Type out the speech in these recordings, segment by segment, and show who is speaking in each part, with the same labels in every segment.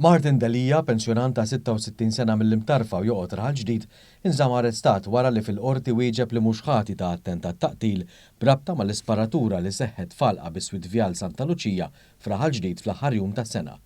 Speaker 1: Martin Delia, pensjonant ta' 66 sena mill-Imtarfa u joqgħod Raħal Ġdid, inżamm arrestat wara li fil-Qorti wieġeb li mhux ħati ta' attentat ta' qtil b'rabta mal-isparatura li seħħet f'għalqa biswit Vjal Santa Luċija f'Raħal Ġdid fl-aħħar jum tas-sena.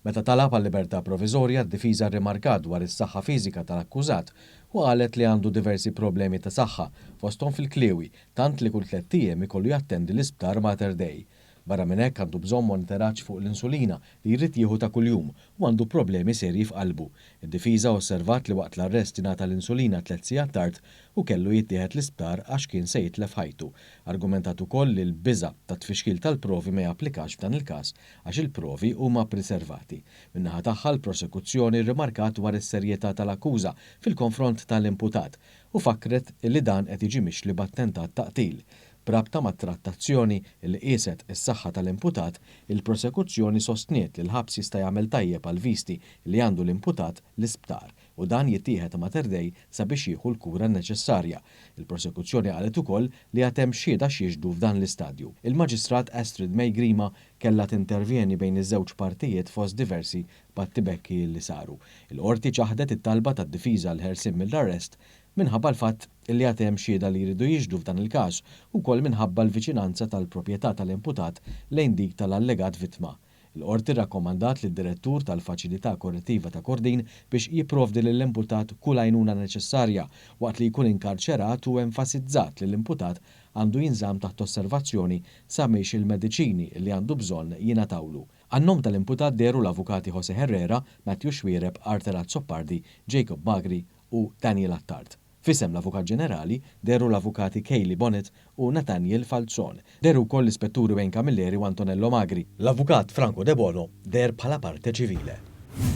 Speaker 1: Meta talab għal libertà proviżorja, d-difiża rrimarkat dwar is-saħħa fiżika tal-akkużat u qalet li għandu diversi problemi ta' saħħa, fosthom fil-kliewi, tant li kull tlett ijiem ikollu jattendi l-isptar Mater Dei. Barra minn hekk għandu bżonn monitoraġġ fuq l-insulina li jrid jieħu ta' kuljum u għandu problemi serji f'qalbu. Id-difiża osservat li waqt l-arrest ingħata l-insulina tliet sigħat tard u kellu jittieħed l-isptar għax kien se jitlef ħajtu. Argumentat ukoll li l-biża' tat-tfixkil tal-provi ma japplikax f'dan il-każ għax il-provi huma priservati. Min-naħa tagħha l-prosekuzzjoni rrimarkat dwar is-serjetà tal-akkuża fil-konfront tal-imputat u fakkret li dan qed jiġi mixli b'attentat ta' qtil B'rabta mat-trattazzjoni li qieset is-saħħa tal-imputat, il-prosekuzzjoni sostniet li l-ħabs jista' jagħmel tajjeb għall-visti li għandu l-imputat l-isptar u dan jittieħed ta' Mater Dei sabiex jieħu l-kura neċessarja. Il-prosekuzzjoni qalet ukoll li għad hemm xhieda x'jixhdu f'dan l-istadju. Il-Maġistrat Astrid May Grima kellha tintervjeni bejn iż-żewġ partijiet fost diversi battibekki li saru. Il-Qorti ċaħdet it-talba tad-difiża għall-ħelsien mill-arrest minħabba l-fatt li għad hemm xhieda li jridu jixhdu f'dan il-każ, ukoll minħabba l-viċinanza tal-proprjetà tal-imputat lejn dik tal-allegat vittma. Il-Qorti rrakkomandat lid-Direttur tal-Faċilità Korrettiva ta' Kordin biex jipprovdi lill-imputat kull għajnuna neċessarja waqt li jkun inkarċerat u enfasizzat li l-imputat għandu jinżamm taħt osservazzjoni sabiex il-mediċini li għandu bżonn jingħatawlu. Għan-nom tal-imputat dehru l-Avukati Jose Herrera, Matthew Xuereb, Arthur Azzopardi, Jacob Magri, u Daniel Attard. F'isem l-Avukat Ġenerali dehru l-Avukati Kayleigh Bonnet u Nathaniel Falzon. Dehru wkoll l-Ispetturi Wayne Camilleri u Antonello Magri. L-Avukat Franco Debono deher bħala parte civile.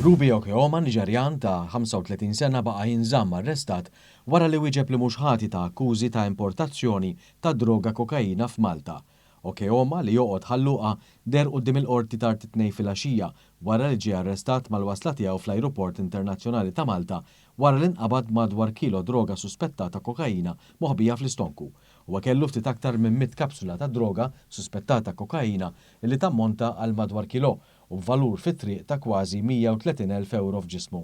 Speaker 1: Ruby Okeoma, Niġerjan ta' 35 sena baqa' jinżamm arrestat wara li wieġeb li mhux ħati ta' akkużi ta' importazzjoni ta' droga kokaina f'Malta, Okeoma li joqgħod Ħal Luqa deher quddiem il-Qorti tard it-Tnejn filgħaxija wara li ġie arrestat mal-wasla tiegħu fl-Ajruport Internazzjonali ta' Malta wara li nqabad b'madwar kilo droga suspettata kokaina moħbija fl-istonku. Huwa kellu ftit aktar minn mitt kapsula ta' droga suspettata kokaina li tammonta għal madwar kilo u b'valur fit-triq ta' kważi 130,000 ewro f'ġismu.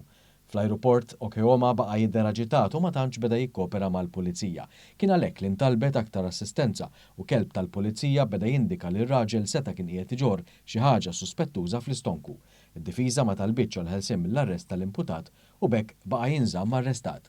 Speaker 1: Fl-ajruport, Okeoma baqa' jidher aġitat u ma tantx beda jikkopera mal-pulizija. Kien għalhekk li ntalbet aktar assistenza u kelb tal-pulizija beda jindika li r-raġel seta' kien qiegħed iġorr xi ħaġa suspettuża fl-istonku. Id-difiża ma talbitx għall-ħelsien mill-arrest tal-imputat u b'hekk baqa' jinżamm arrestat.